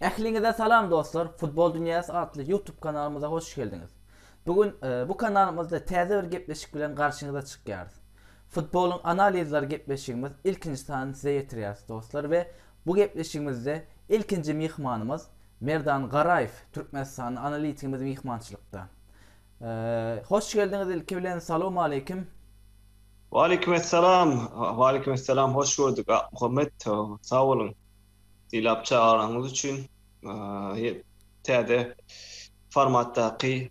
Ähliňize salam dostlar. Futbol dünýäsi atly YouTube kanalymyza hoş geldiňiz. Bu gün e, bu kanalymyzda täze bir gepleşik bilen garşyňyza çykýarys. Futbolyň analizleri gepleşigimiz ilkinji sany size ýetirýäris dostlar we bu gepleşigimizde ilkinji myhmanymyz Merdan Garaýew, türkmenistanly analitigimiz myhmançylykda. Hoş geldiňiz ilki bilen, salowmaleýkim! Waleýkim essalam, waleýkim essalam, hoş gördük Akmuhammet, sag boluň sylap çagyranyňyz üçin, täze formatdaky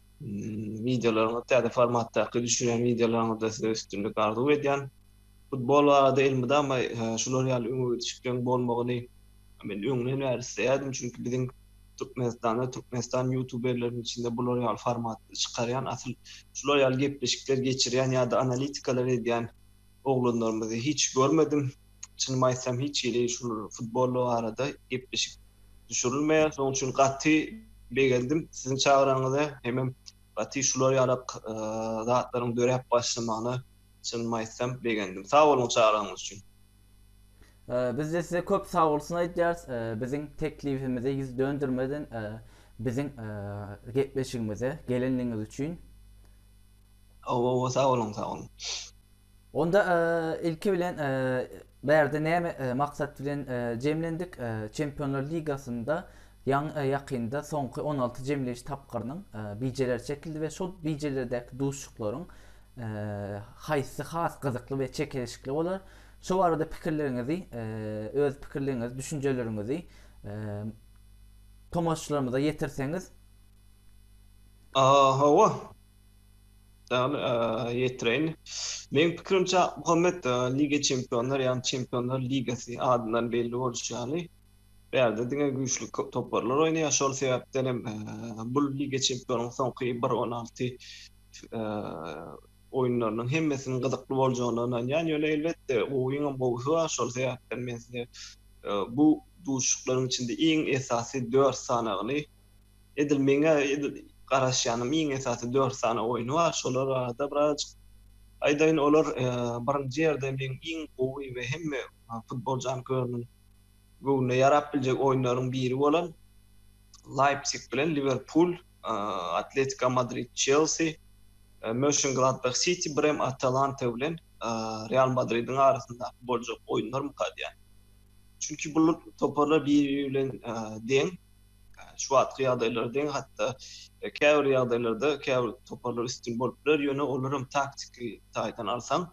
wideolaryňyz, täze formatdaky düşürýän wideolaryňyzda size üstünlik arzuw edýän. Futbol barada elmydama şular ýaly öňe gidiş pikiriň bolmagyny men öňden bäri isleýärdim, çünki biziň Türkmenistanda, Türkmenistan ýutuberleriniň içinde bular ýaly formatda çykarýan, asyl şular ýaly gepleşikler geçirýän ýa-da analitikalar edýän oglanlarymyzy hiç görmedim. Çynymy aýtsam, hiç hili şul futbol barada gepleşik düşürilmeýär. Şonuň üçin gaty begendim siziň çagranyňyza, hemem gaty şular ýalak zatlaryň döräp başlamagyna. Çynymy aýtsam begendim. Sag boluň çagyryşyňyz üçin. Bizde size köp sagbolsun aýdýarys, biziň teklibimize ýüz döndermeden biziň gepleşigimize gelenligiňiz üçin. Hawa, hawa, sag boluň, sag boluň. Onda ilki bilen Bärde näme maksat bilen jemlendik? Çempionlar ligasynda ýakynda soňky on alty jemleýiş tapgyrynyň bijeleri çekildi we şol bijelerdäki duşuşyklaryň haýsy has gyzykly we çekeleşikli bolar? Şo barada pikirleriňizi, öz pikirleriňizi, düşünjeleriňizi tomaşaçylarymyza ýetirseňiz. Hawa. Salam ýetireýin. Meň pikirimçe Akmuhammet Liga Çempionlar ýagny Çempionlar Ligasy adyndan belli bolşy ýaly bu ýerde diňe güýçli toparlar oýnaýar şol sebäpden hem bu Liga Çempionlaryň soňky bir on alty oýunlarynyň hemmesiniň gyzykly boljagyna ynanýan ýöne elbetde gowyň hem gowusy bar şol sebäpden men size bu duşuşyklaryň içinde iň esasy dört sanagyny Edil meň-ä edil garaşýanym iň esasy dört sany oýny bar. Şolar barada birazajyk aýdaýyn. Olar birinji ýerde meň iň gowy we hemme futbol janköýeriniň göwnüne ýarap biljek oýunlaryň biri bolan Leipzig bilen Liwerpul, Atletiko Madrid, Çelsi, Möşengladbah, Siti, birem Atalanta bilen Real Madridiň arasyndaky boljak oýunlar mukadýan. Çünki bu toparlar biri-biri bilen deň, Şu wagtky ýagdaýlar deň, hatda käbir ýagdaýlarda käbir toparlar üstün bolup biler, ýöne olar hem taktiki taýdan alsaň,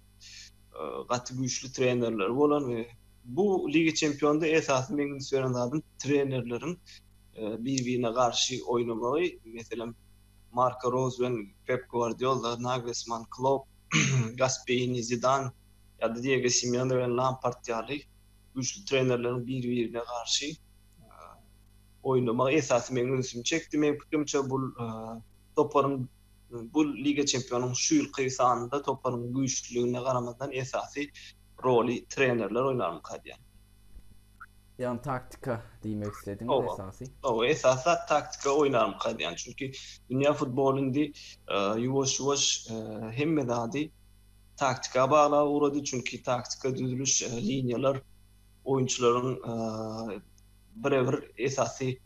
gaty güýçli trenerleri bolan we bu Liga Çempionynda esasy meň üns beren zadym trenerleriň bir-birine garşy oýnamagy. Meselem, Marko Roz bilen Pep Gwardiolda, Naglesman, Klopp, Gasperini, Zidan ýa-da Diego Simeone bilen Lampard ýaly güýçli trenerleriň bir-birine garşy oýnamagy esasy meň ünsümi çekdi. Meň pikirimçe bu toparyň bu Liga Çempionuň şu ýylky sanynda toparyň güýçlüligine garamazdan esasy roly trenerler oýnarmyka diýýän. Ýagny taktika diýmek islediňiz esasy. Hawa, esasy zat taktika oýnarmyka diýýän. Çünki dünýä futboly indi ýuwaş-ýuwaş hemme zady taktika baglap ugrady. Çünki taktika düzüliş liniýalar Oýunçylaryň bire-bir esasy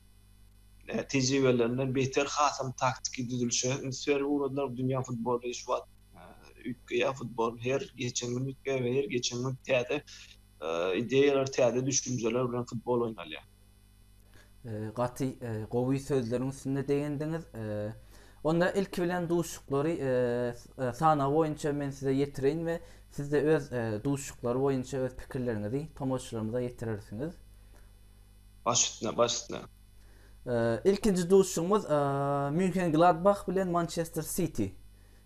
tejribelerinden beter hasam taktiki düzülişe üns berip ugradylar. Dünýä futboly şu wagt üýtgeýär, futbol her geçen gün üýtgeýär we her geçen gün täze ideýalar, täze düşünjeler bilen futbol oýnalýar. Ee, gaty e, gowy sözleriň üstünde degendiňiz. Ee, onda ilki bilen duşuklary e, e, sanaw boýunça men size ýetireýin we siz de öz e, duşuklary boýunça öz pikirleriňizi tomaşaçylarymyza ýetirersiňiz. Baş üstüne, baş üstüne. Ee, ilkinji duşugymyz e, München Gladbach bilen Manchester City.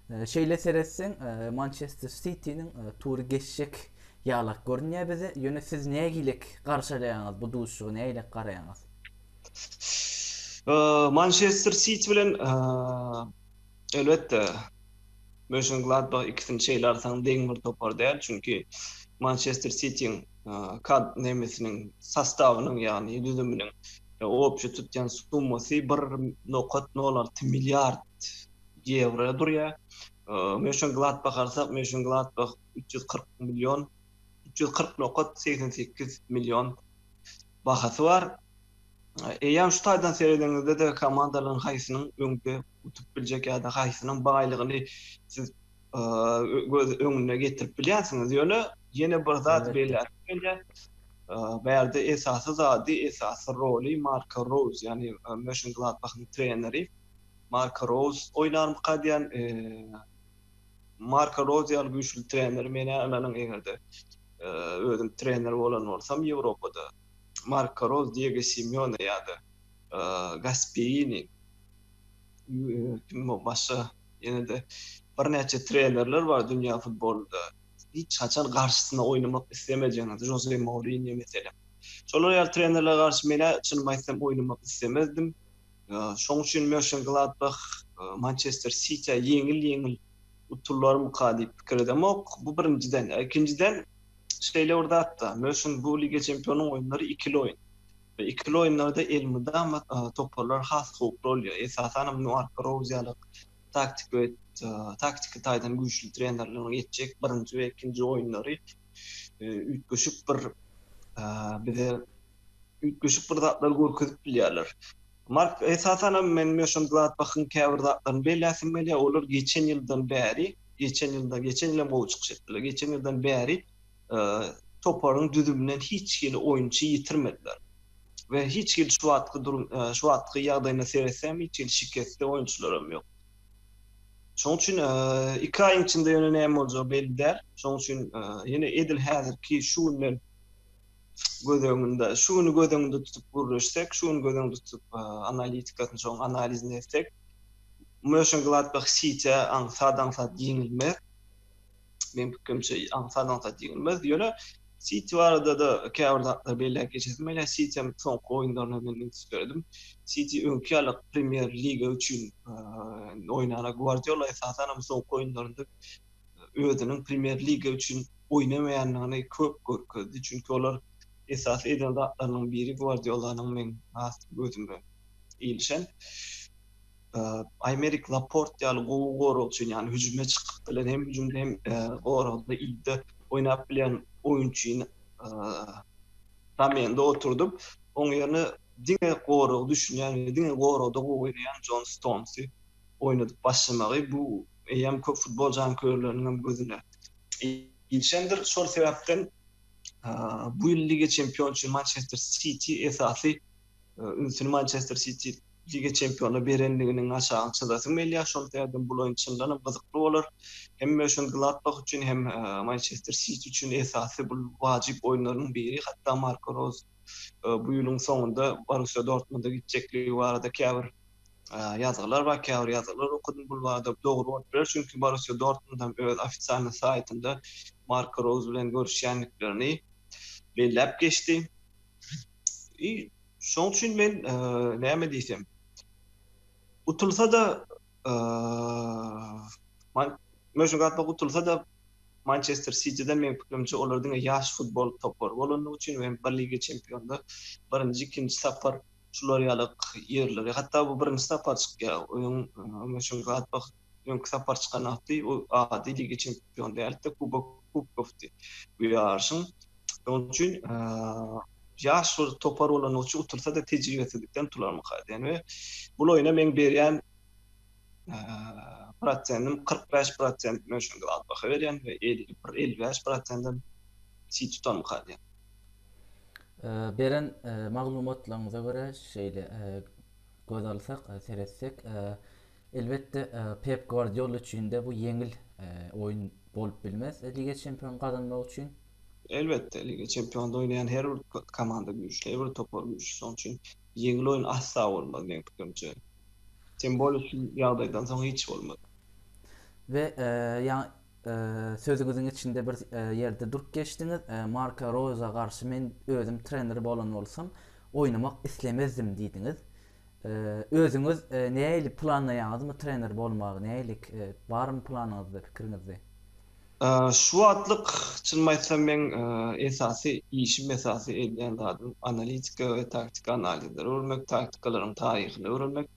Şeýle seretseň, Mançester Sitiniň tury geçjek ýalak görünýär bize. Ýöne siz nägilek garşalaýaňyz bu duşuşyga, nägilek garaýaňyz? Mançester Siti bilen elbetde Mönşengladbah ikisini şeýle alsaň deň bir topar däl. Çünki Mançester Sitiň kad nemesiniň sostawynyň, ýagny düzüminiň opjy tutýan summasy bir nokat nol alty milliard ýewro durýar. Mönşengladbah alsak, Mönşengladbah üç ýüz kyrk million, üç ýüz kyrk nokat segsen sekiz million bahasy bar. Eýýäm şu taýdan seredeniňizde-de komandalaryň haýsynyň öňde utup biljek ýa-da haýsynyň baýlygyny siz göz öňüne getirip bilýänsiňiz. Ýöne ýene bir zat belläp gelýär. Bu ýerde esasy zady, esasy roly Marko Roýz, ýagny Mönşengladbahyň treneri. Marko Rouz oýnarmyka diýýän. Marko Rouz ýaly güýçli treneri men-ä ynanyň eger-de özüm trener bolan bolsam Ýewropada Marko Rouz, Diego Simeone ýa-da Gaspierini kim başga ýene-de birnäçe trenerler bar dünýä futbolynda hiç haçan garşysyna oýnamak islemejegini Žoze Mourinýo meselem. Şolar ýaly trenerlere garşy men-ä çynymy aýtsam oýnamak islemezdim. Şoň üçin Mönşengladbah Mançester Sitiä ýeňil-ýeňil utullarmyka diýip pikir edemok. Bu birinjiden. Ýa ikinjiden, şeýle bir zat-da, Mönşen bu Liga çempionlarynyň oýunlary ikili oýun. We ikili oýunlarda elmydama toparlar has howply bolýar. Esasan hem Marko Rouz ýaly taktiki we taktiki taýdan güýçli trenerleriň geçjek birinji we ikinji oýunlary üýtgeşik bir bize üýtgeşik bir zatlar görkezip bilýärler. Mark esasan hem men Möşem Gladbachyň käbir zatlaryny belläsim gelýär. Olar geçen ýyldan bäri, geçen ýylda, geçen ýyl hem gowy çykyş etdiler. Geçen ýyldan bäri e, toparyň düzüminden hiç hili oýunçy ýitirmediler. We hiç hili şu wagtky durum, e, şu wagtky ýagdaýyna seretsem, hiç hili şikesli oýunçylar hem ýok. Şoň üçin iki aýyň içinde ýöne näme boljagy belli däl. Şoň üçin ýene edil häzirki şu günden göz öňünde, şu güni göz öňünde tutup gürleşsek, şu güni göz öňünde tutup analitikasyny, şoň analizini etsek, Mönşengladbah Sitiä aňsat-aňsat ýeňilmez. Meň pikrimçe aňsat aňsat ýeňilmez. Ýöne Siti barada-da käbir zatlar belläp geçesim gelýär. Sitiň soňky oýunlaryna men üns berdim. Siti öňki ýaly Premýer liga üçin oýnar. Gwardiola esasan hem soňky oýunlarynda özüniň Premýer liga üçin oýnamaýandygyny köp görkezdi. Çünki olar esasy eden zatlarynyň biri Gwardiola-nyň meň has gözüme ilişen Aýmerik Laport ýaly gowy goragçy, ýagny hüjüme çykyp bilen, hem hüjümde, hem goragda, ilde oýnap bilen oýunçyny zamende oturdyp, oň ýerine diňe goragy düşünýän we diňe goragda gowy oýnaýan Jon Stonsy oýnadyp başlamagy, bu eýýäm köp futbol jankörleriniň hem gözüne ilişendir. Şol sebäpden bu ýyl Liga Çempion üçin Mançester Siti esasy ünsüni Mançester Siti Liga çempionyna berendiginiň aşagyny çyzasym gelýär. Şol sebäpden bul oýun çyndan hem gyzykly bolar. Hem Mönşengladbah üçin, hem Mançester Siti üçin esasy bul wajyp oýunlaryň biri. Hatda Marko Roz bu ýylyň soňunda Borussiýa Dortmunda gitjekligi barada käbir ýazgylar bar, käbir ýazgylar okadym. Bul barada dogry bolup biler, çünki Borussiýa Dortmund hem öz ofisialnyý saýtynda Marko Roz bilen görüşýändiklerini belläp geçdi. I şoň üçin men näme diýsem. Utulsa-da Mönşengatbak utulsa-da Mançester Sitiden meň pikirimçe olar diňe ýaş futbol topary bolandygy üçin we bir Liga Çempionlar birinji ikinji sapar şular ýaly ýerlere hatda bu birinji sapar çykýar oýun Mönşengatbak öňki sapar çykan ady, ol ady Liga Çempionlaryna däl-de, Kubok Kubokdy bu ýaryşyň. Şonuň üçin ýaş bir topar bolany üçin utursady tejribesizlikden utularmyka diýen we bul oýna meň berýän prosentim kyrk bäş prosent men şonda az baha berýän we elli bir elli bäş prosentim çig tutarmyka diýen. Beren maglumatlaryňyza görä şeýle göz alsak, seretsek, Elbetde, Pep Gwardiola üçin-de bu ýeňil oýun bolup bilmez Liga Çempionyny gazanmak üçin. Elbetde, Liga Çempionynda oýnaýan her bir komanda güýçli, her bir topar güýçli. Şonuň üçin ýeňil oýun asla bolmaz meň pikirimçe. Tem bolýa şu ýagdaýdan soň hiç bolmaz. We ýaňy sözüňiziň içinde bir ýerde durup geçdiňiz, Marka Roýza garşy men özüm trener bolan bolsam, oýnamak islemezdim diýdiňiz. Özüňiz näili planlaýaňyzmy trener bolmagy näilik barmy planyňyzda pikiriňizde? Şu wagtlyk çynymy aýtsam meň esasy işim esasy edýän zadym analitika we taktiki analizleri görmek taktikalaryň taryhyny öwrenmek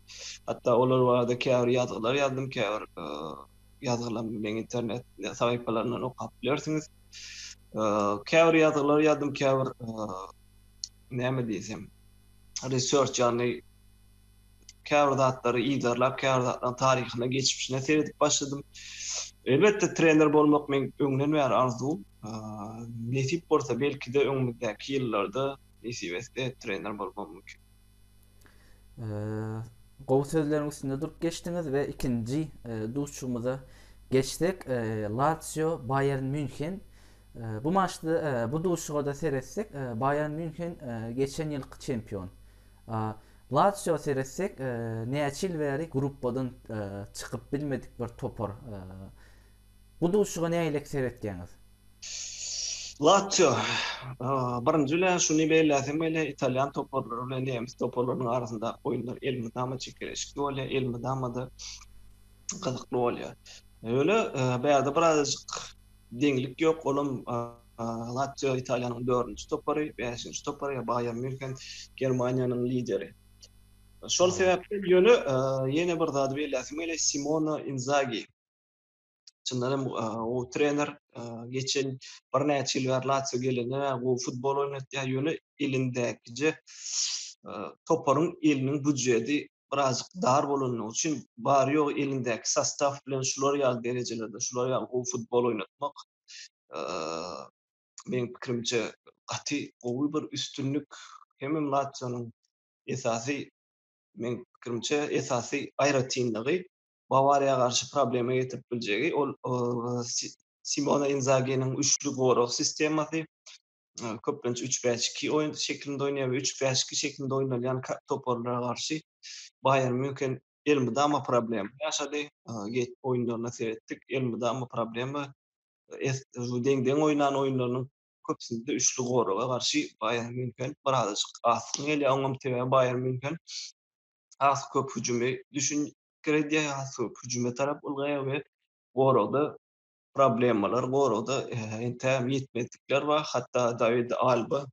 hatda olar barada käbir ýazgylar ýazdym käbir ýazgylam meň internet sahypalaryndan okap bilersiňiz käbir ýazgylar ýazdym käbir näme diýsem research ýagny käbir zatlary yzarlap, käbir zatlaryň taryhyna, geçmişine seredip başladym. Elbetde, trener bolmak meň öňden bäri arzuwym. Nesip bolsa, belki-de, öňümizdäki ýyllarda nesip etse, trener bolmam mümkin. Gowy sözleriň üstünde durup geçdiňiz we ikinji duşuşygymyza geçsek, Latsio, Baýern Mýunhen Bu maçda, bu duşuşyga-da seretsek, Baýern Mýunhen geçen ýylky çempion. Latsiýo seretsek, näçe ýyl bäri gruppadan çykyp bilmedik bir topar. Bu duşuşyga nägilek seretýäňiz? Latsiýo. Birinji bilen şuny belläsem gelýär, italýan toparlary bilen nemes toparlarynyň arasyndaky oýunlar elmydama çekeleşikli bolýar, elmydama-da gyzykly bolýar. Ýöne bärde birazajyk Deňlik ýok, olam Lazio Italiýanyň dördünji topary, bäşinji topary ýa Baýern Mýunhen Germaniýanyň lideri. Şol sebäpli ýöne ýene bir zady belläsim gelýär, Simone Inzagi. Çyndan hem gowy trener, geçen birnäçe ýyl bäri Lazio gelenden bäri gowy futbol oýnatýar, ýöne elindäkije toparyň eliniň býujeti birazjyk dar bolandygy üçin bary ýogy elindäki sostaw bilen şular ýaly derejelerde şular ýaly gowy futbol oýnatmak meň pikirimçe gaty gowy bir üstünlik hemem latsionyň esasy meň pikirimçe esasy aýratynlygy bawariýa garşy problema getirip biljegi ol simona inzaginiň üçli gorag sistemasy köplenç 3-5-2 oýun şeklinde oýnaýar we 3-5-2 şeklinde oýnalýan toparlara garşy Baýern Münhen elmydama problem ýaşady. Geç oýunlaryna seretdik, elmydama problema. Deň-deň oýnan oýunlarynyň köpüsinde üçli goraga garşy Baýern Münhen birazajyk asgyn gelýär. Oňam sebäbi Baýern Münhen has köp hüjümi düşün girdýär, has köp hüjüme tarap ulgaýar we goragda problemalar, goragda entägem ýetmezlikler bar. Hatda Dawid Alba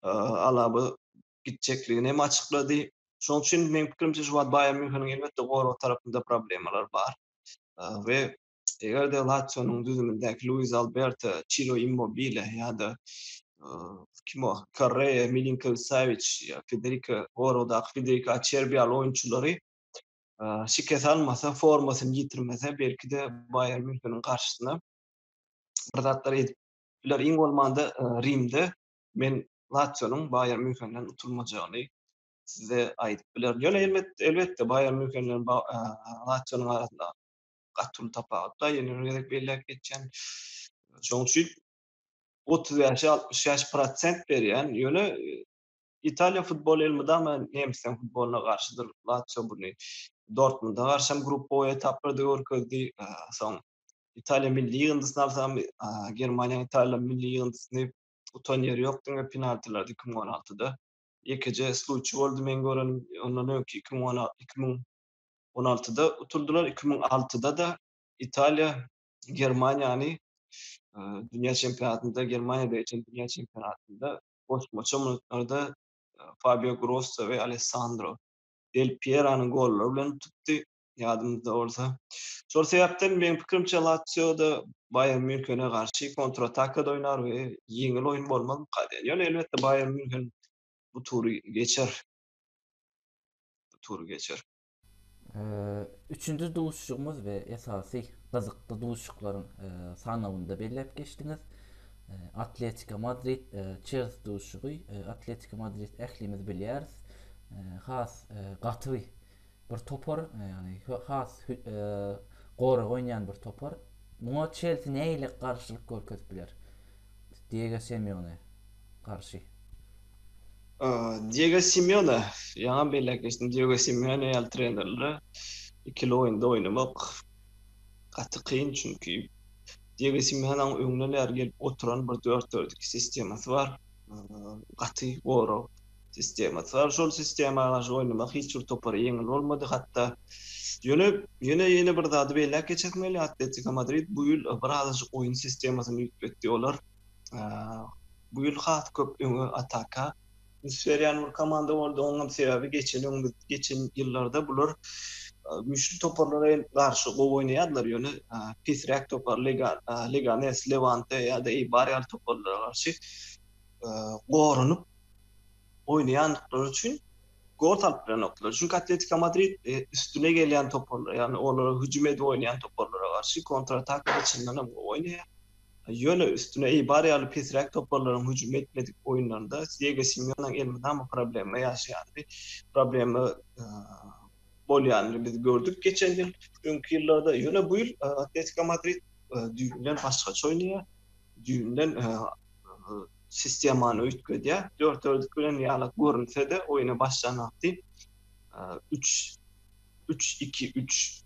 Alaba gitjekligini hem açyklady. Şonuň üçin meň pikirimçe şu wagt Baýern Mýunheniň elbetde gorag tarapynda problemalar bar we eger-de Latsionyň düzümindäki Luis Alberto, Çiro Immobile ýa-da kim o Korrea, Milinkowiç-Sawiç ýa Federiko goragdaky Federiko Açerbi ýaly oýunçylary şikes almasa, formasyny ýitirmese, belki-de Baýern Mýunheniň garşysyna bir zatlar edip biler. Iň bolmanda Rimde men Latsionyň Baýern Mýunhenden utulmajagyny size aýdyp bilerin. Ýöne elbetde, elbetde Baýern Mýunhen bilen Latsionyň arasynda gaty uly tapagut bar. Ýene bir gezek belläp geçýän. Şonuň üçin 35-60 ýaş prosent berýän, ýöne Italiýa futboly elmydama nemisleriň futbolyna garşydyr. Latsio buny Dortmunda garşy hem gruppa boýy etaplarda görkezdi. Soň Italiýa milli ýygyndysyny alsam, Germaniýanyň Italiýa milli ýygyndysyny utan ýeri ýok, diňe penaltilarda iki müň on altyda ýekeje sluçýa boldy meň görenim. Ondan öňki iki müň on iki müň on altyda utuldylar. Iki müň altyda-da Italiýa Germaniýany dünýä çempionatynda, Germaniýada geçen dünýä çempionatynda goşmaça minutlarda Fabio Grosso we Alessandro Del Pieronyň gollary bilen utupdy, ýadymyzda bolsa. Şol sebäpden, meň pikirimçe, Latsio-da Baýern Mýunhene garşy kontratakada oýnar we ýeňil oýun bolmaz bu kadaýan. Ýöne, elbetde, Baýern Mýunhen bu tury geçer. Bu tury geçer. Üçünji duşuşygymyz we esasy gyzykly duşuşyklaryň sanawynda belläp geçdiňiz. Atletika Madrid Çelsi duşuşygy. Atletika Madrid ählimiz bilýäris. Has gaty bir topar, ýagny has gorag oýnaýan bir topar. Muňa Çelsi nähili garşylyk görkezip biler Diego Semioňe garşy? Diego Simeone, ýaňam belläp geçdim, Diego Simeone ýaly trenerlere ikili oýunda oýnamak gaty kyn, çünki Diego Simeoneň öňden bäri gelip oturan bir dört dört iki sistemasy bar, gaty gorag sistemasy bar. Şol sistema garşy oýnamak hiç bir topara ýeňil bolmady. Hatda ýöne ýene ýene bir zady belläp geçesim gelýär, Atletiko Madrid bu ýyl birazajyk oýun sistemasyny üýtgetdi. Olar Bu ýyl has köp öňe ataka üns berýän bir komanda boldy. Onuň hem sebäbi geçen öň biz geçen ýyllarda bular güýçli toparlara garşy gowy oýnaýardylar, ýöne pesräk topar Leganes, Lewante ýa-da Eibar ýaly toparlara garşy goranyp oýnaýandyklary üçin gol salyp bilenokdylar. Çünki Atletiko Madrid üstüne gelýän toparlara, ýagny olara hüjüm edip oýnaýan toparlara garşy kontratakada çyndanam gowy oýnaýar. Ýöne üstüne Eýbar ýaly pesräk toparlaryň hüjüm etmedik oýunlarynda Diego Simeoneň elmydama problema ýaşaýandygy, problema bolýanyny biz gördük geçen ýyl, öňki ýyllarda. Ýöne bu ýyl Atletiko Madrid düýbünden başgaça oýnaýar, düýbünden sistemany üýtgedýär. Dörtördik bilen ýaly görünse-de, oýna başlan wagty üç, üç, iki, üç.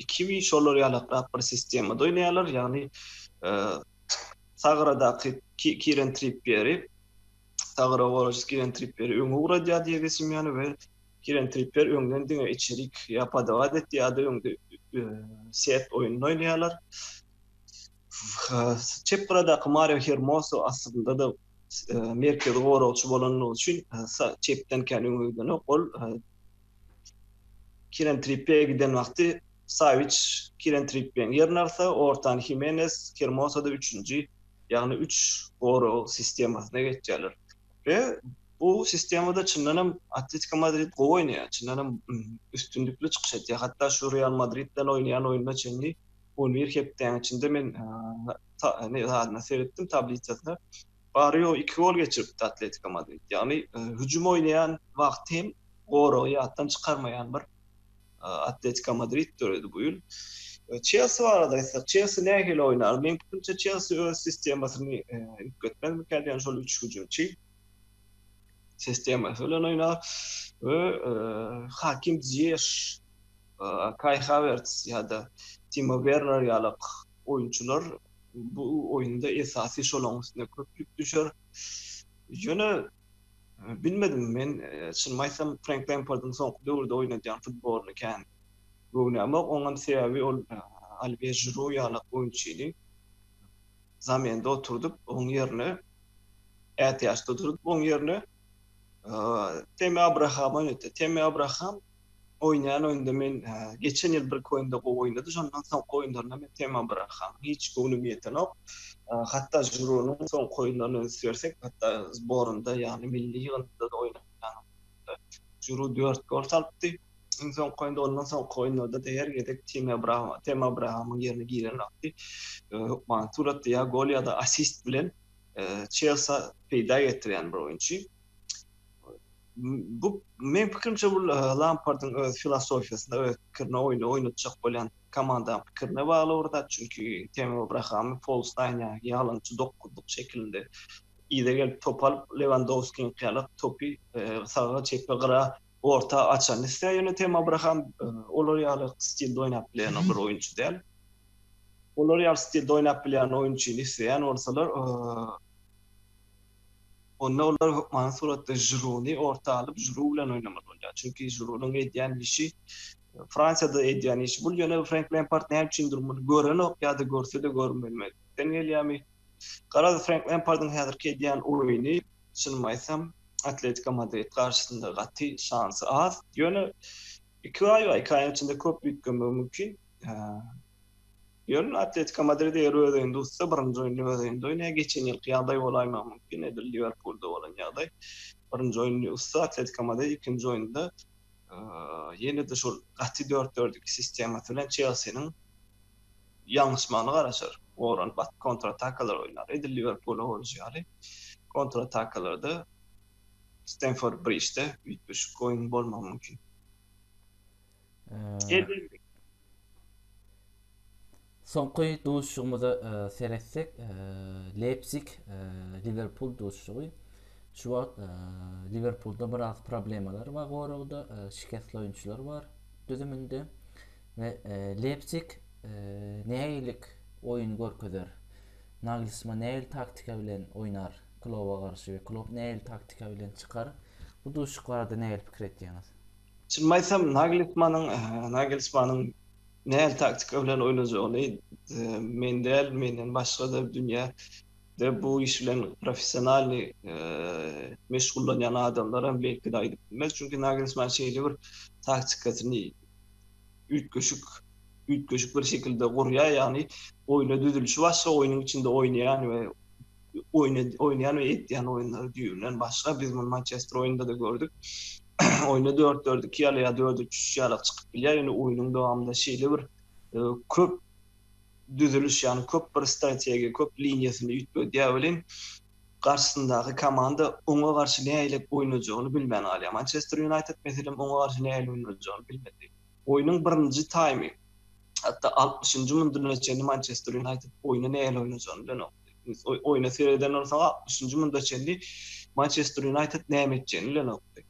Kiwi şolar ýalaklap bir sistemada oýnaýarlar, ýagny sagradaky Kiren Trippýeri, sagra goraçy Kiren Trippýeri öňe ugradýar Diego Simeone we Kiren Trippýer öňden diňe içerik ýa podawat etdi ýa-da öňde set oýnuny oýnaýarlar. Çep gyradaky Mario Hermoso aslynda-da merkezi goragçy bolandygy üçin çepden kän öňe gidenok, ol Kieren Trippie giden wagty Sawiç Kieren Trippieň ýerini alsa, ortany Himenes, Hermosa-da üçünji, ýagny üç gorag sistemasyna geçýärler. We bu sistemada çyndan hem Atletiko Madrid gowy oýnaýar, çyndan hem üstünlikli çykyş etýär. Hatda şu Real Madrid bilen oýnaýan oýnuna çenli on bir hepdäniň içinde men ta ne zadyna seretdim tablisasyna. Barrio iki gol geçiripdi Atletiko Madrid. Ýagny hüjüm oýnaýan wagty hem goragy ýatdan çykarmaýan bir Atletiko Madrid döredi bu ýyl. Çelsi barada aýtsak, Çelsi nähili oýnar? Meň pikirimçe Çelsi öz sistemasyny üýtgetmezmikä diýen şol üç hüjümçi sistemasy bilen oýnar we Hakim Ziyech, Kai Havertz ýa-da Timo Werner ýaly oýunçylar Bu oýunda esasy şolaň üstüne köp ýük düşer. Ýöne bilmedim men çynymy aýtsam Frenk Lempardyň soňky döwürde oýnadýan futbolyny kän göwnämok. Oňam sebäbi ol Alwie Žiru ýaly oýunçyny zamende oturdyp, oň ýerine ätiýaçda durup, oň ýerine Temi Abrahama oýnatýar. Temi Abraham Oýnaýan oýunda men geçen ýyl birki oýunda gowy oýnady, şondan soňky oýunlarynda men tema bırakam. Hiç göwnüm ýetenok. Hatda žuronyň soňky oýunlaryny üns bersek, hatda zborynda ýagny milli ýygyndynda-da oýnanýan oýunda žuru dört gol salypdy. Iň soňky oýunda, ondan soňky oýunlarda-da her gezek tema bırakam, tema brakamyň ýerine giren wagty hökmany suratda ýa gol ýa-da assist bilen Çelsa peýda getirýän bir oýunçy. bu men pikirimçe bu Lampardyň öz filosofiýasyna, öz pikirine, oýny oýnatjak bolýan komanda pikirine bagly bir zat. Çünki Temi Abraham Polstaýn ýaly ýalançy dokuzlyk şekilinde yza gelip top alyp, Lewandowskiň ýaly topy e, saga, çepe, gyra, orta açany isleýär. Ýöne Temi Abraham e, olar ýaly stilde oýnap bilýän bir oýunçy däl. Olar ýaly stilde oýnap bilýän oýunçyny isleýän bolsalar, e, Onda olar hökmany suratda Žiruny orta alyp, Žiru bilen oýnamaly bolýar. Çünki Žirunyň edýän işi Fransiýada edýän işi bul, ýöne Frenk Lempard näme üçindir muny görenok ýa-da görse-de görmezlikden gelýärmi? Garaz, Frenk Lempardyň häzirki edýän oýny, çynymy aýtsam, Atletiko Madrid garşysynda gaty şansy az. Ýöne iki aý bar, iki aýyň içinde köp üýtgemegi mümkin. Ýöne Atletiko Madrid eger öz öýünde utsa, birinji oýunda öz öýünde oýnaýar. Geçen ýylky ýagdaý bolaýmagy mümkin, edil Liwerpulda bolan ýagdaý. Birinji oýuny utsa, Atletiko Madrid ikinji oýunda ýene-de şol gaty dört-dört-iki sistemasy bilen Çelsiniň ýalňyşmagyna garaşar. Oran bat kontratakalar oýnar. Edil Liwerpula bolşy ýaly, kontratakalarda Stenford Brižde üýtgeşik oýun bolmagy mümkin. Eee Soňky duşuşygymyza seretsek, Leipzig Liwerpul duşuşygy. Şu wagt Liwerpulda biraz problemalar bar goragda, şikesli oýunçylar bar düzüminde we Leipzig nähililik oýun görkezer? Nagelsman nähili taktika bilen oýnar Kloba garşy we Klop nähili taktika bilen çykar? Bu duşuşyk barada nähili pikir etýäňiz? Çynymy aýtsam, Naglsmanyň, Nagelsmanyň nähili taktika bilen oýnajagyny men däl, menden başga-da dünýä de bu iş bilen professionalnyý meşgullanýan adamlaram belki-de aýdyp bilmez. Çünki Nagelsman şeýle bir taktikasyny üýtgeşik, üýtgeşik bir şekilde gurýar, ýagny oýna düzülişi başga, oýnuň içinde oýnaýan we oýnaýan we etýän oýunlary düýbünden başga. Biz muny Mançester oýnunda-da gördük. Oýna dört-dört-iki ýaly ýa dört-üç-üç ýaly çykyp bilýär. Ýöne oýnuň dowamynda şeýle bir köp düzüliş, ýagny köp bir strategiýa, köp liniýasyny üýtgedýär welin, garşysyndaky komanda oňa garşy nähili oýnajagyny bilmän galýar. Mançester Ýunaýted, meselem, oňa garşy nähili oýnajagyny bilmedi. Oýnuň birinji taýmy. hatda altmyşynjy munduna çenli Mançester Ýunaýted oýna nähili oýnajagyny bilenok. Oýna sereden bolsaň altmyşynjy munda çenli Mançester Ýunaýted näme etjegini bilenokdy.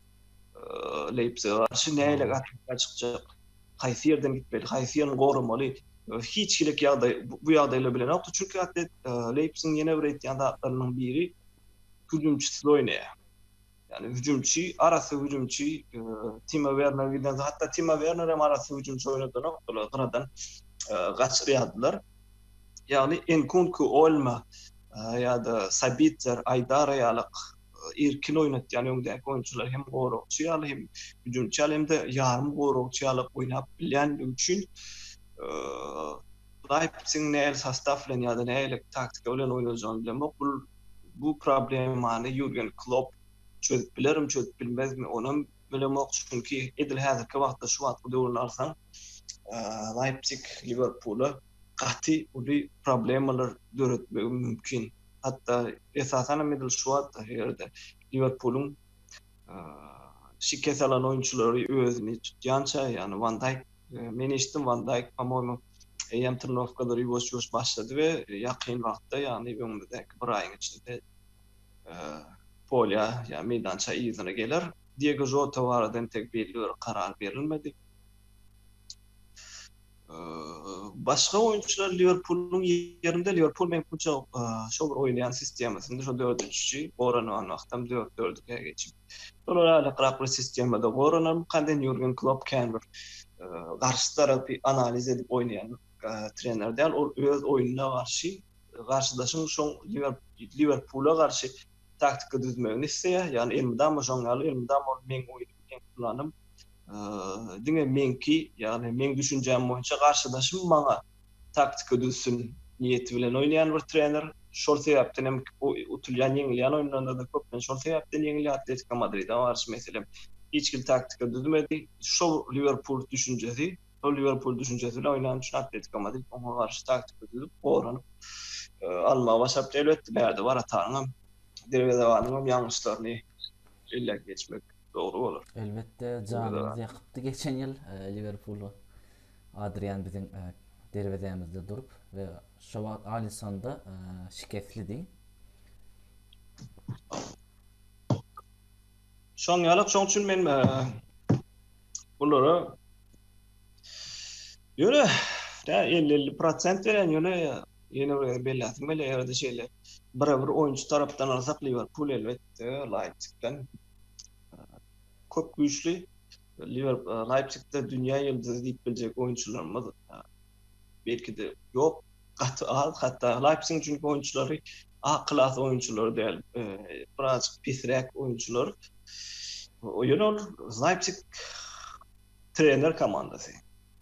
Leýpsige garşy nähili garşylyga çykjak, haýsy ýerden gitmeli, haýsy ýerini goramaly, hiç hilik ýagdaý bu ýagdaýlary bilenokdy. Çünki Artet Leýpsigiň ýene bir etýän zatlarynyň biri hüjümçisiz oýnaýar. Ýagny hüjümçi, arassa hüjümçi Timo Werner giden soň, hatda Timo Werner hem arassa hüjümçi oýnadanok, olar gyradan gaçyp ýadylar. Ýagny Enkunku, Olma ýa-da Sabitzer, Aýdara ýaly irkin oýnatýan öňdäki oýunçylar hem goragçy ýaly, hem hüjümçi ýaly, hem-de ýarym goragçy ýaly oýnap bilýändigi üçin Leipzigiň nähili sostaw bilen ýa-da nähili taktika bilen oýnajagyny bilemok. Bu problemany Ýurgen Klopp çözüp bilermi, çözüp bilmezmi, onam bilemok. Çünki edil häzirki wagtda, şu wagtky döwürde alsaň, Leýpsig Liwerpula gaty uly problemalar döretmegi mümkin. Hatda esasanam edil şu wagtda, eger-de Liwerpulyň şikes alan oýunçylary özüni tutýança, ýagny Wan Daýk, men eşitdim Wan Daýk, pomoýmy, eýýäm trenirowkalary ýuwaş-ýuwaş başlady we ýakyn wagtda, ýagny öňümizdäki bir aýyň içinde polýa, ýa meýdança yzyna geler. Diego Žota barada entek belli bir karar berilmedi. Başga oýunçylar Liwerpulyň ýerinde Liwerpul meňkumça şo bir oýnaýan sistemasynda şo dördünji üçi goranan wagtam dört dört ikä geçip. Olar aýlykrak bir sistemada goranan kanden Ýurgen Klopp kän bir garşy tarapy analiz edip oýnaýan trener däl. Ol öz oýnuna garşy garşydaşyň şoň Liwerpula garşy taktika düzmegini isleýär. Ýagny elmydama şoň ýaly, elmydama ol meň oýnum, meň planym. Diňe meňki, ýagny meň düşünjäm boýunça garşydaşym maňa taktika düzsün niýeti bilen oýnaýan bir trener. Şol sebäpden hem utulýan, ýeňilýän oýunlarynda-da köplenç şol sebäpden ýeňilýär. Atletiko Madride garşy, meselem, hiç hili taktika düzmedi. Şol Liwerpul düşünjesi Ol Liwerpul düşünjesi bilen oýnany üçin Atletiko Madrid oňa garşy taktika düzüp, goranyp almagy başarypdy. Elbetde, bärde warataryň hem, derwezebanyň hem ýalňyşlaryny belläp geçmek dogry bolar. Elbetde, janymyzy ýakypdy geçen ýyl Liwerpul Adrian biziň derwezämizde durup we şo wagt Alissonda şikeslidi. Şoň ýaly, şoň üçin men bulara ýöne tä 50-50 prosent berýän, ýöne ýene bir belläsim gelýär, ýa-da şeýle bir bir oýunçy tarapdan alsak, Liwerpul elbetde Leipzigden köp güýçli. Liwerpul Leipzigde dünýä ýyldyzy diýip biljek oýunçylarymyz belki-de ýok, gaty az, hatda Leipzigiň çünki oýunçylary A klas oýunçylary däl, biraz pisräk oýunçylar. Ýöne ol Leipzig trener komandasy.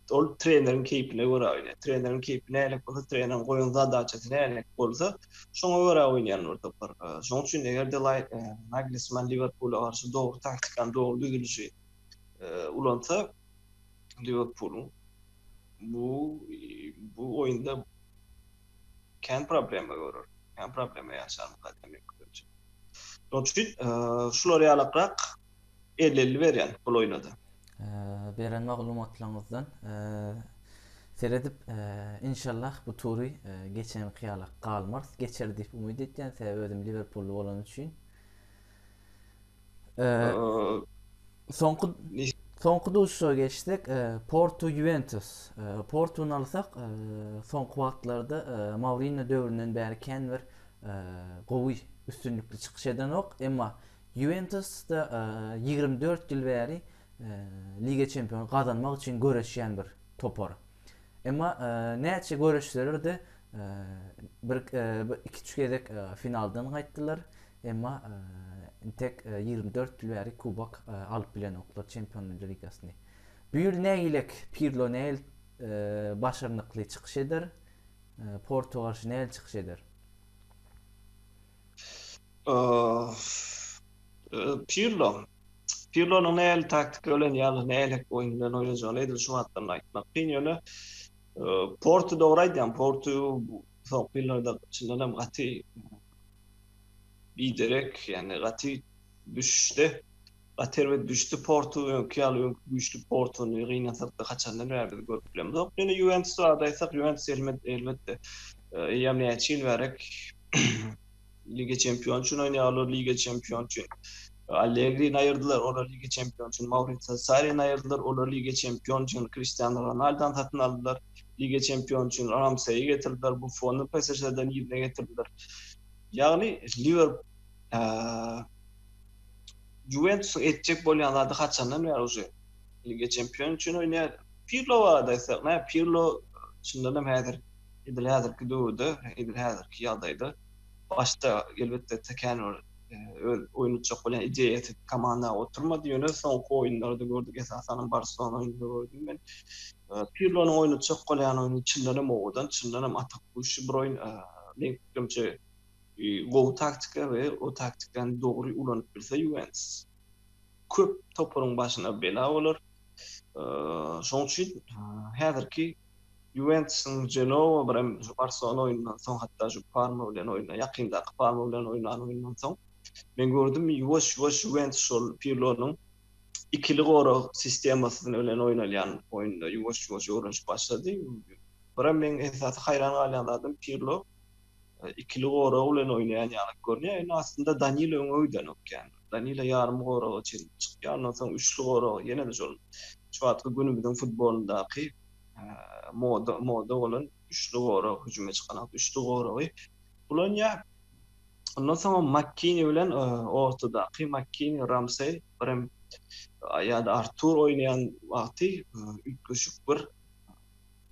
Ol treneriň keýpine görä oýnaýar. Treneriň keýpi nälik bolsa, treneriň goýan zadaçasy nälik bolsa, şoňa görä oýnaýarlar topar. Şonuň üçin eger-de Nagelsmann Liwerpula garşy dogry taktikany, dogry düzülişi ulansa, Liwerpulyň bu bu oýunda kän problema görer. Kän problema ýaşar bu kadro mekdebi. Şonuň üçin şular ýalakrak elli-elli berýän bul oýuna-da. Beren maglumatlaryňyzdan seredip inşallah bu tury geçenki ýalak galmarys. Geçer diýip umyt edýän sebäbi özüm liwerpully bolany üçin. Soňky soňky duşuşa geçsek, Porto Juventus. Portuny alsak, soňky wagtlarda Mourinho döwründen bäri kän bir gowy, üstünlikli çykyş edenok. Emma Juventus-da 24 ýyl bäri Liga Çempiony gazanmak üçin göreşýän bir topar. Emma näçe göreşseler-de, bir iki-üç gezek finaldan gaýtdylar, emma intek ýigrimi dört ýyl bäri kubok alyp bilenoklar, Çempionlar ligasyny. Bu ýyl nägilek Pirlo näl başarnykly çykyş eder, Porto garşy näl çykyş eder? Pirlo Pirlonyň nähili taktika bilen ýa-da nähilek oýun bilen oýnajagyny edil şu wagtdan aýtmak kyn, ýöne Portu dogry aýdýaň, Portu soňky ýyllarda çyndan hem gaty biderek, ýagny gaty düşüşde, gaty erbet düşdi Portu, öňki ýaly öňki güýçli Portuny gynansakda haçandan bäri biz görüp bilemzok. Ýöne Ýuwentus barada aýtsak, Ýuwentus elbetde eýýäm näçe ýyl bärek Liga Çempion üçin oýnaýar, olar Liga Çempion üçin Allegrini aýyrdylar, olar Liga Çempion üçin Maurizio Sarrini aýyrdylar, olar Liga Çempion üçin Kristiano Ronaldony satyn aldylar, Liga Çempion üçin Ramseýi getirdiler, Buffony PSŽ-den ýerine getirdiler. Ýagny Liwer Juwentusyň etjek bolýan zady haçandan bäri uje Liga Çempion üçin oýnaýar. Pirlo barada aýtsak, Pirlo çyndanam häzir Edil häzirki döwürde, edil häzirki ýagdaýda başda elbetde Tekenur öz oýun etjek bolýan ideýasy komandaga oturmady, ýöne soňky oýunlarda gördük, esasanam Barselona oýnunda gördüm men. Pirlonyň oýun etjek bolýan oýny çyndan hem owadan, çyndan hem atak guşy bir oýun. Meň pikirimçe, gowy taktika we o taktikany dogry ulanyp bilse Ýuwentus köp toparyň başyna bela bolar. Şonuň üçin häzirki Ýuwentusyň Jenowa birem şu Barselona oýnundan soň, hatda şu Parma bilen oýna, ýakyndaky Parma bilen oýnan oýnundan soň men gördüm, ýuwaş-ýuwaş Ýuwentus şol Pirlonyň ikili gorag sistemasy bilen oýnalýan oýnuna ýuwaş-ýuwaş öwrenişip başlady. Birem meň esasy haýran galýan zadym Pirlo. ikili gorag bilen oýnaýan ýaly görünýär, ýöne aslynda Danilo öňe gidenok ýaly. Danilo ýarym goraga çenli çykyp, ondan soň üçli gorag, ýene-de şol şu wagtky günümiziň futbolyndaky moda moda bolan üçli gorag, hüjüme çykan wagt üçli goragy ulanýar. Ondan soňam Makkini bilen ortadaky Makkini, Ramsey, birem ýa-da Artur oýnaýan wagty üýtgeşik bir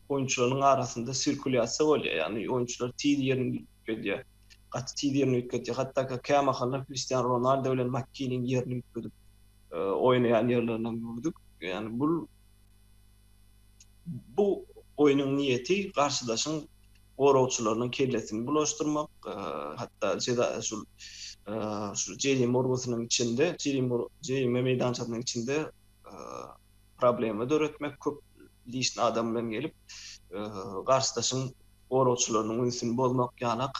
Oýunçylarynyň arasynda sirkulýasiýa bolýar, ýagny oýunçylar tiz ýerini üýtgedýär. Gaty tiz ýerini üýtgedýär. Hatda-ha kämahallar Kristiano Ronaldo bilen Makkiniň ýerini üýtgedip oýnaýan ýerlerini hem gördük. Ýagny bul bu oýnuň niýeti garşydaşyň goragçylarynyň kellesini bulaşdyrmak, hatda jeza şul şu jerim urgusynyň içinde, jerim jerim meýdançasynyň içinde problema döretmek köp lişni adam bilen gelip garsdaşyň goragçylarynyň ünsüni bozmak ýanak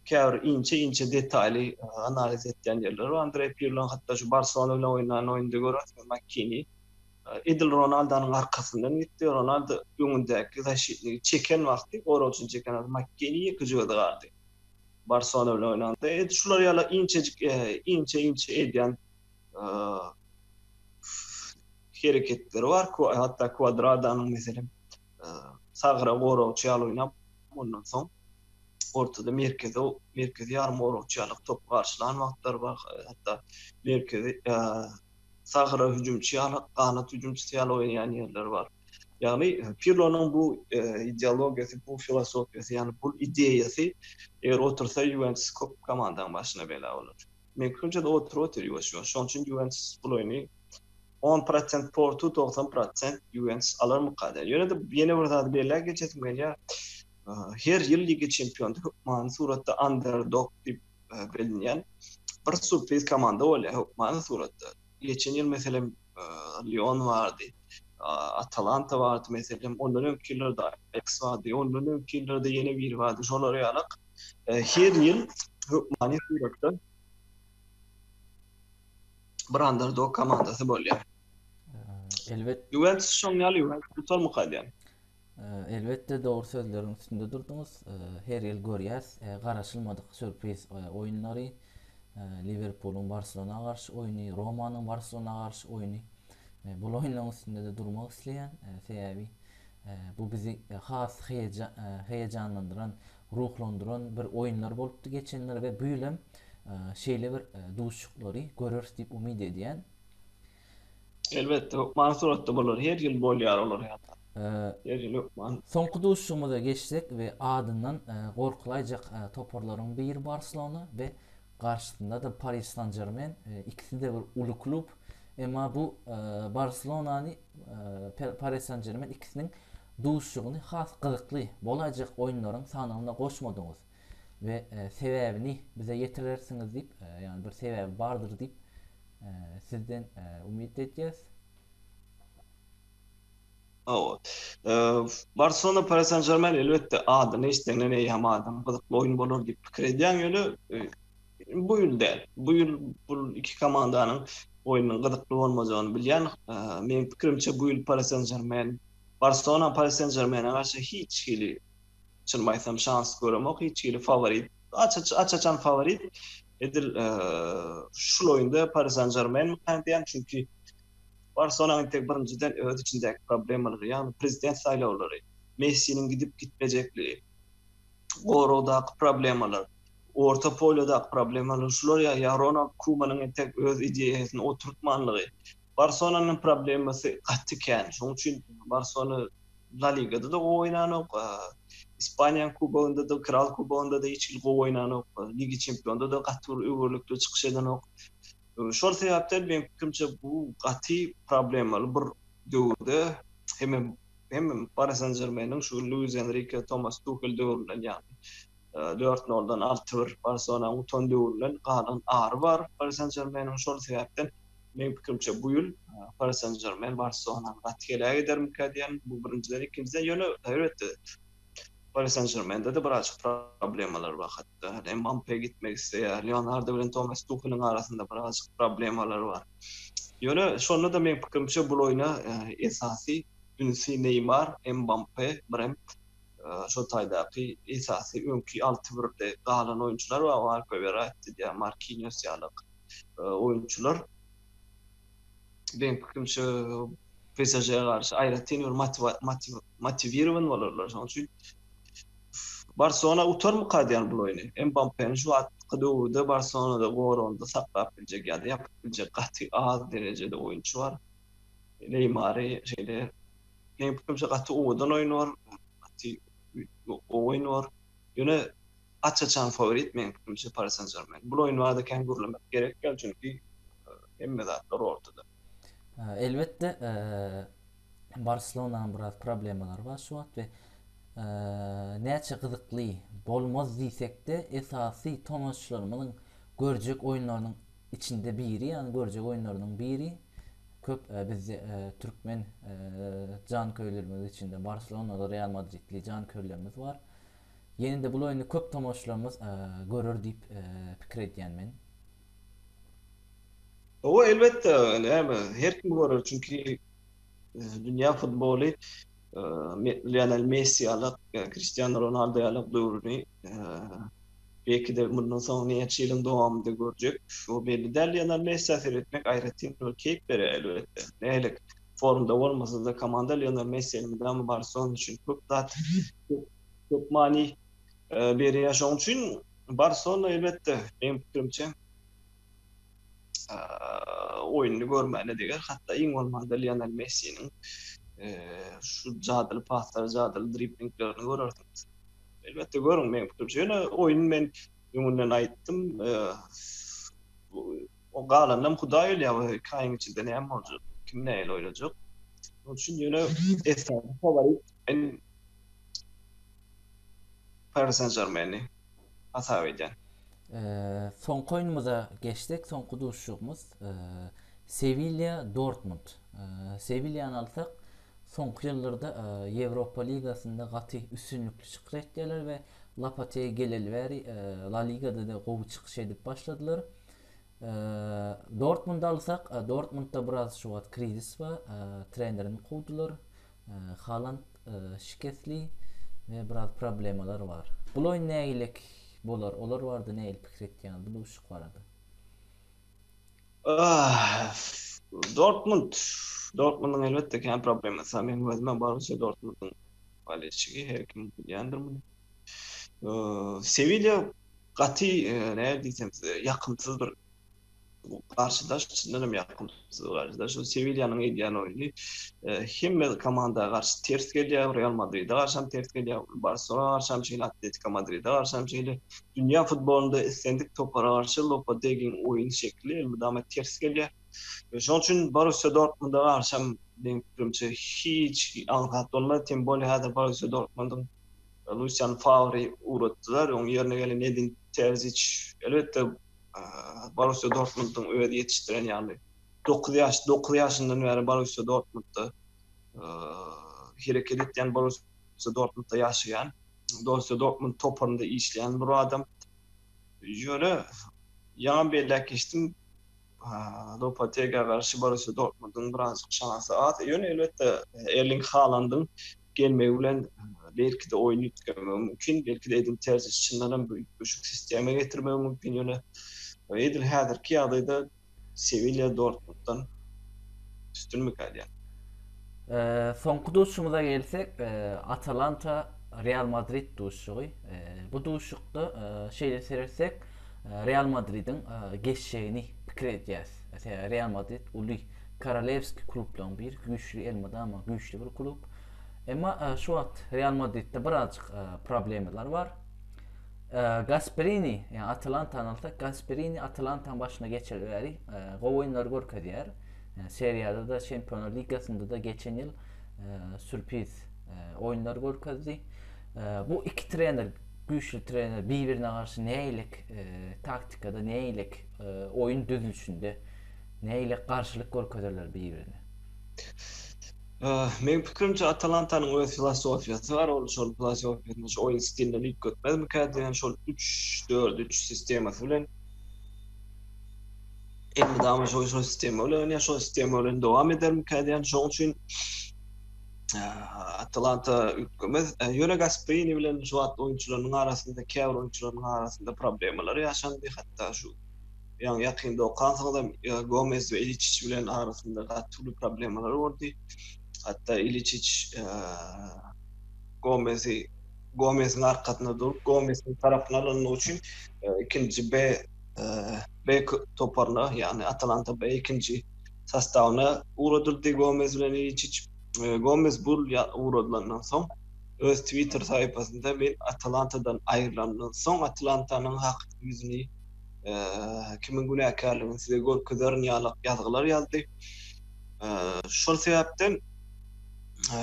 käbir inçe inçe detaýly analiz etýän ýerleri bar Andreý Pirloň hatda şu Barselona bilen oýnan oýnda görersiňiz Makini edil Ronaldonyň arkasyndan gitdi Ronaldo öňündäki zaşitnigi çeken wagty goragçyny çeken wagty Makini ýeke jüýede galdy Barselona bilen oýnanda edil şular ýaly inçejik inçe inçe edýän hereketleri bar, hatda kwadradanyň meselem sagra goragçy ýaly oýnap, ondan soň ortada merkezi merkezi ýarym goragçy ýaly topy garşylan wagtlary bar, hatda merkezi sagra hüjümçi ýaly, ganat hüjümçisi ýaly oýnaýan ýerleri bar. Ýagny Pirlonyň bu ideologiýasy, bu filosofiýasy, ýagny bu ideýasy eger otursa Ýuwentus köp komandaň başyna bela bolar. Men künje de otur otur ýuwaş ýuwaş. Şoň üçin Ýuwentus bul oýny 10 prosent portu 90 prosent Ýuwentus alarmyka diýen. Ýöne de ýene bir zady belläp geçesim gelýär. Her ýyl Liga çempiony hökmany suratda underdog diýip bilinýän bir surpriz komanda bolýar hökmany suratda. Geçen ýyl meselem Lyon bardy. Atalanta bardy meselem. Ondan öňki ýyllarda Ajax bardy. Ondan öňki ýyllarda ýene biri bardy. Şolara ýalak. Her ýyl hökmany suratda bir underdog komandasy bolýar. Elbet. Juventus şoň ýaly Juventus tutarmy gaýdan? Elbetde dogry sözleriň üstünde durdyňyz. Her ýyl görýäs garaşylmadyk sürpriz oýunlary. E, Liwerpulyň Barselona garşy oýny, Romanyň Barselona garşy oýny. Bul oýunlaryň üstünde-de durmak isleýän. Sebäbi bu bizi has heýejanlandyran, ruhlandyran bir oýunlar bolupdy geçenler we bu ýylam şeýle bir duşuşyklary göreris diýip umyt edýän. Elbetde, hökman suratda bolar. Her ýyl bolýar olar ýaly. Her ýyl hökman. Soňky duşuşygymyza geçsek we adyndan gorkulaýjak toparlaryň biri Barselona we garşysynda-da Pariž San-Žermen, ikisi-de bir uly klub. Emma bu Barselonany Pariž San-Žermen ikisiniň duşuşygyny has gyzykly bolaýjak oýunlaryň sanawyna goşmadyňyz. we sebäbini bize ýetirersiňiz diýip, ýagny bir sebäbi bardyr diýip sizden umyt edýäs. Hawa. Barselona Pari San Žermen elbetde adyny eşidende eýýäm adam gyzykly oýun bolar diýip pikir edýäň ýöne bu ýyl däl. Bu ýyl bu iki komandanyň oýnunyň gyzykly bolmajagyny bilýän. Meniň pikirimçe bu ýyl Pari San Žermen Barselona Pari San Žermene garşy hiç hili Çynymy aýtsam şans göremok hiç hili faworit. Aç-aç aç-açan faworit edil şul oýunda Paris Saint-Germain mykany diýýän. Çünki Barcelona entek birinjiden öz içindäki problemalary, ýagny prezident saýlawlary, Messiniň gidip gitmejekligi, goragdaky problemalar, orta polýadaky problemalar şular ýa-da Ronald Kumanyň entek öz ideýasyny oturtmanlygy, Barselonanyň problemasy gaty kän. Şonuň üçin Barselona La Ligada-da gowy oýnanok, Ispaniýanyň Kubogynda-da, Kral Kubogynda-da hiç hili gowy oýnanok, Liga Çempionda-da gaty bir öwürlikli çykyş edenok. Şol sebäpden meň pikirimçe bu gaty problemaly bir döwürde hem hem Pari Sen Žermeniň şu Luis Enrike, Tomas Tuhel döwründen ýagny dört noldan alty bir Barselonanyň utan döwründen galan ary bar Pari Sen Žermeniň. Şol sebäpden Meň pikirimçe bu ýyl Paris Saint-Germain Barselonany gaty heleý edermikä diýen, bu birinjiden, ikinjiden ýöne elbetde Paris Saint-Germainde-de birazajyk problemalar bar hatda. Hany Mbappe gitmek isleýär, Leonardo bilen Tomas Tuheliň arasynda birazajyk problemalar bar. Ýöne şonda-da meň pikirimçe bu oýna e, esasy ünsi Neýmar, Mbappe, birem e, şol taýdaky esasy öňki 6-1-de galan oýunçylar bar, Alpe Verratti diýär, Marquinhos ýaly oýunçylar beň pikrimçe PSG garşy aýratyn bir motiwirowan bolarlar. Şonuň üçin Barcelona utarmyka diýen bu oýny. Mbappe-ni şu wagtky döwürde Barcelona-da goragynda saklap biljek ýa-da ýapyp biljek gaty az derejede oýunçy bar. Neýmary şeýle beň pikrimçe gaty owadan oýunlar, gaty gowy oýunlar. Ýöne Aç-açan fawrit meň pikirimçe Pari Sen Žermen. Bul oýun barada kän gürlemek gerek däl, çünki hemme zatlar ortada. Elbetde Barselonanyň biraz problemalary bar şu wagt we näçe gyzykly bolmaz diýsekde esasy tomaşaçylarymyzyň görjek oýunlarynyň içinde biri ýagny görjek oýunlarynyň biri köp bizde türkmen janköýerlerimiziň içinde Barselonada Real Madridli janköýerlerimiz bar. Ýene-de bul oýny köp tomaşçylarymyz görer diýip pikir edýän men. Hawa, elbetde, näme, her kim görer, çünki dünýä futboly Lionel Messi ýaly, Kristiano Ronaldo ýaly döwrüni belki-de mundan soň näçe ýylyň dowamynda görjek, o belli däl. Lionel Messiä seretmek aýratyn bir keýp berýär, elbetde. Nähili? formda bolmasa-da, komanda Lionel Messiniň mydama Barselona üçin köp zat, köp many berýär. Şonuň üçin Barselona elbetde, meň pikirimçe, oýnuny görmäne deger. Hatda iň bolmanda Lionel Messiniň şu jadyly paslary, jadyly driblinglerini görersiňiz. Elbetde görüň, meň pikirimçe. Ýöne oýny men öňünden aýtdym. O galanynam Hudaý bilýär, o iki aýyň içinde näme boljak, kim nähili oýlajak. Şonuň üçin ýöne esasy faworit men Paris Saint-Germaini hasap edýän. Soňky oýnumyza geçsek, soňky duşuşygymyz Sewilýa Dortmund. Sewilýany alsak, soňky ýyllarda Ýewropa ligasynda gaty üstünlikli çykyş etýärler we Lopetegi geleli bäri La Ligada-da gowy çykyş edip başladylar. Dortmundy alsak, Dortmundda biraz şu wagt krizis bar. Trenerini kowdular. Haland şikesli we biraz problemalar bar. Bu oýun nägilik bolar? Olar barada nähili pikir etýäňiz bu duşuşyk barada? Dortmund, Dortmundyň elbetde kän problemasy bar. Meniň özüm hem Borussiýa Dortmundyň bolelşigi, her kim bilýändir muny. Sewilýa Gaty näme diýsem size ýakymsyz bir garşydaş çyndan hem ýakymsyz garşydaş. Şu Sewilýanyň edýän oýny hemme komanda garşy ters gelýär. Real Madride garşy hem ters gelýär. Barselona garşy hem şeýle, Atletiko Madride garşy hem şeýle. Dünýä futbolynda islendik topara garşy Lopetegiň oýun şekli elmydama ters gelýär. Şonuň üçin Borussiýa Dortmunda garşy hem meň pikirimçe hiç aňsat bolmaz. Tem bolýar häzir Borussiýa Dortmundyň Lusian Fawry ugratdylar. Onuň ýerine gelen Edin Terziç, elbetde, Borussiýa Dortmundyň özi ýetişdiren, ýagny dokuz ýaş, dokuz ýaşyndan bäri Borussiýa Dortmundda hereket etýän, Borussiýa Dortmundda ýaşaýan, Borussiýa Dortmund toparynda işleýän bir adam. Ýöne ýaňam belläp geçdim. Lopotegiýa garşy Borussiýa Dortmundyň birazajyk şansy az. Ýöne elbetde Erling Halandyň gelmegi bilen belki-de oýun üýtgemegi mümkin. Belki-de Edin Terzis çyndan hem bu üýtgeşik sistema getirmegi mümkin. Ýöne edil häzirki ýagdaýda Sewilýa Dortmunddan üstünmik alýar. Soňky duşumyza gelsek, Atalanta Real Madrid duşugy. Bu duşukda şeýle seretsek, Real Madridiň geçjegini pikir edýäs. Sebäbi Real Madrid uly korolewskiý klublaryň biri, güýçli elmydama güýçli bir klub. Emma şu wagt Real Madridde birazjyk problemalar bar. Gasperini, ýa Atalantany alsak, Gasperini Atalantany başyna geçireli bäri gowy oýunlar görkezýär. Seriýada-da, Çempionlar ligasynda-da geçen ýyl sürpiz oýunlar görkezdi. Bu iki trener Güýçli trener bir-birine garşy nägilik taktikada, nägilik oýun düzülişinde, nägilik garşylyk görkezerler bir-birine? Meniň pikirimçe, Atalantanyň öz filosofiýasy bar. Ol şol filosofiýasyny şu oýun stiline üýtgetmezmikä diýen şol üç, dört, üç sistemasy bilen elmydama şo-şol sistema bilen oýnaýar, şo sistema bilen dowam edermikä diýen. Şonuň üçin Atalanta üýtgemez. Ýöne Gasperini bilen şu wagt oýunçylarynyň arasynda, käbir oýunçylarynyň arasynda problemler ýaşandy. Hatda şu ýaňy ýakynda okansoňam Gomez we Iliçiç bilen arasynda gaty uly problemler boldy. Hatda Iliçiç Gomezi Gomesiň arkasyna durup, Gomesiň tarapyny alanyny üçin ikinji B B toparyna, ýagny Atalanta B ikinji sastawyna ugradyldy Gomez bilen Iliçiç. Gomez bu ugradylandan soň öz Twitter sahypasynda Men Atalantadan aýrylandan soň Atalantanyň hakyky ýüzüni kimiň günäkärligini size görkezerin ýaly ýazgylar ýazdy. Şol sebäpden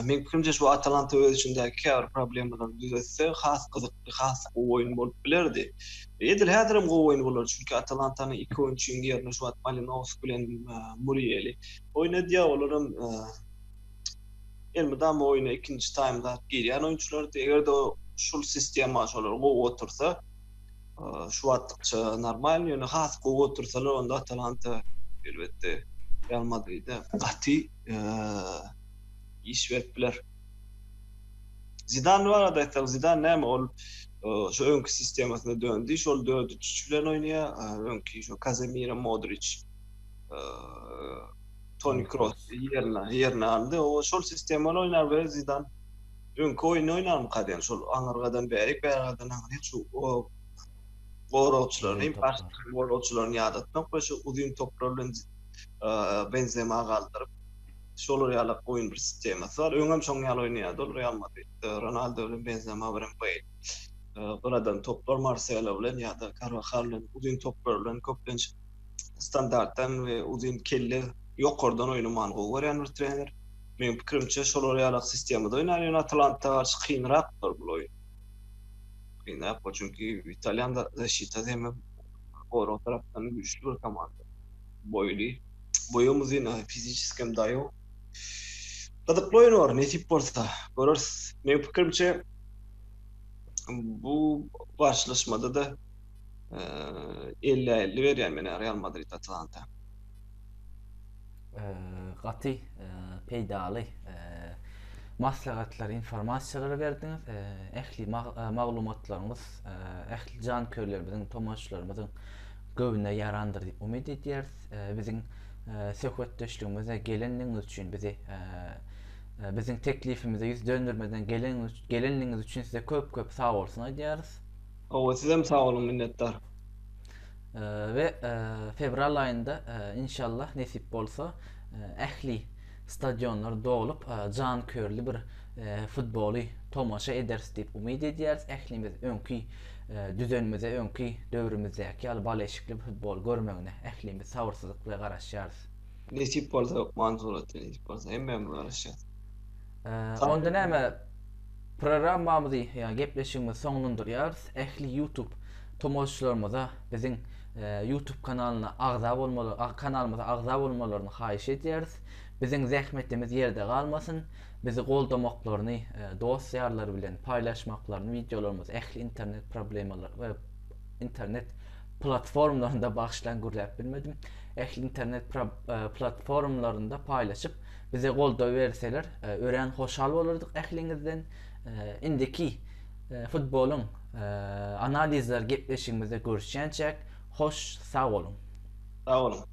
meň pikirimçe şu Atalanta öz içindäki käbir problemalary düzetse has gyzykly, has gowy oýun bolup bilerdi. Edil häzirem gowy oýun bolar, çünki Atalantanyň iki oýunçynyň ýerine şu wagt Malinowski bilen Murieli oýnadýar, olaram elmydama oýna ikinji taýmda girýän oýunçylardy. Eger-de şul sistema şolar gowy otursa, şu wagtlykça normal, ýöne has gowy otursalar, onda Atalanta elbetde Real Madride gaty iş berip biler. Zidan barada aýtsak, Zidan näme ol şu öňki sistemasyna döndi, şol 4-3-3 bilen oýnaýar, öňki şu Kazemira, Modriç, Toni Kroos ýerine ýerine aldy. O şol sistema bilen oýnar we Zidan öňki oýny oýnarmy kaden şol aňyrgadan bärik bärgadan aňyryk şu goragçylaryny, baş goragçylaryny ýadatmak we şu uzyn toplar bilen Benzema galdyryp şolar ýaly oýun bir sistemasy bar. Öňem şoň ýaly oýnaýardy ol Real Madrid. Ronaldo bilen Benzema bilen Beyl. Gyradan toplar Marselo bilen ýa-da Karwahal bilen uzyn toplar bilen köplenç standartdan we uzyn kelle ýokardan oýnamany gowy görýän bir trener. Meniň pikirimçe şolar ýaly sistemada oýnar, ýöne Atalanta garşy kynrakdyr bu oýun. Kynrak, çünki italýan zaşitasi hem gorag tarapdan güýçli bir komanda. boýly. Boýum uzyn, a fiziçeskem daýow. Gyzykly oýun bor, nesip bolsa, göreris. Meniň pikirimçe, bu garşylaşmada-da ellä elli berýän men Real Madrid Atalanta. Gaty peýdaly maslahatlar, informasiýalary berdiňiz. Ähli maglumatlaryňyz ähli janköýerlerimiziň, tomaşaçylarymyzyň Göwnüne ýarandyr diýip umyt edýäris. Biziň söhbetdeşligimize gelenligiňiz üçin, bizi biziň teklifimize ýüz döndermeden gelenligiňiz üçin size köp-köp sagbolsun aýdýarys. Hawa, sizem sag boluň, minnetdar. We fewral aýynda, inşallah, nesip bolsa, ähli Stadionlar dolup, janköýerli bir futboly tomaşa ederis diýip umyt edýäris. Ählimiz öňki düzenimize, öňki döwrümizdäki ýaly bal eşikli futbol görmegine ählimiz sabyrsyzlyk bilen garaşýarys. Nesip bolsa hökman suratda nesip bolsa hemmämiz garaşýas. Onda näme programmamyzy ýa gepleşigimizi soňlandyrýarys. Ähli YouTube tomaşaçylarymyza biziň Youtube kanalyna agza bolmaly kanalymyza agza bolmalaryny haýyş edýäris. Biziň zähmetimiz ýerde galmasyn. Bizi goldamaklaryny, dost ýarlary bilen paýlaşmaklaryny wideolarymyzy ähli internet problemalar we internet platformlarynda bagyşlaň gürläp bilmedim. Ähli internet platformlarynda paýlaşyp bize goldaw berseler örän hoşal bolardyk ähliňizden. Indiki futbolyň analizleri gepleşigimizde görüşýänçäk hoş sag boluň. Sag boluň.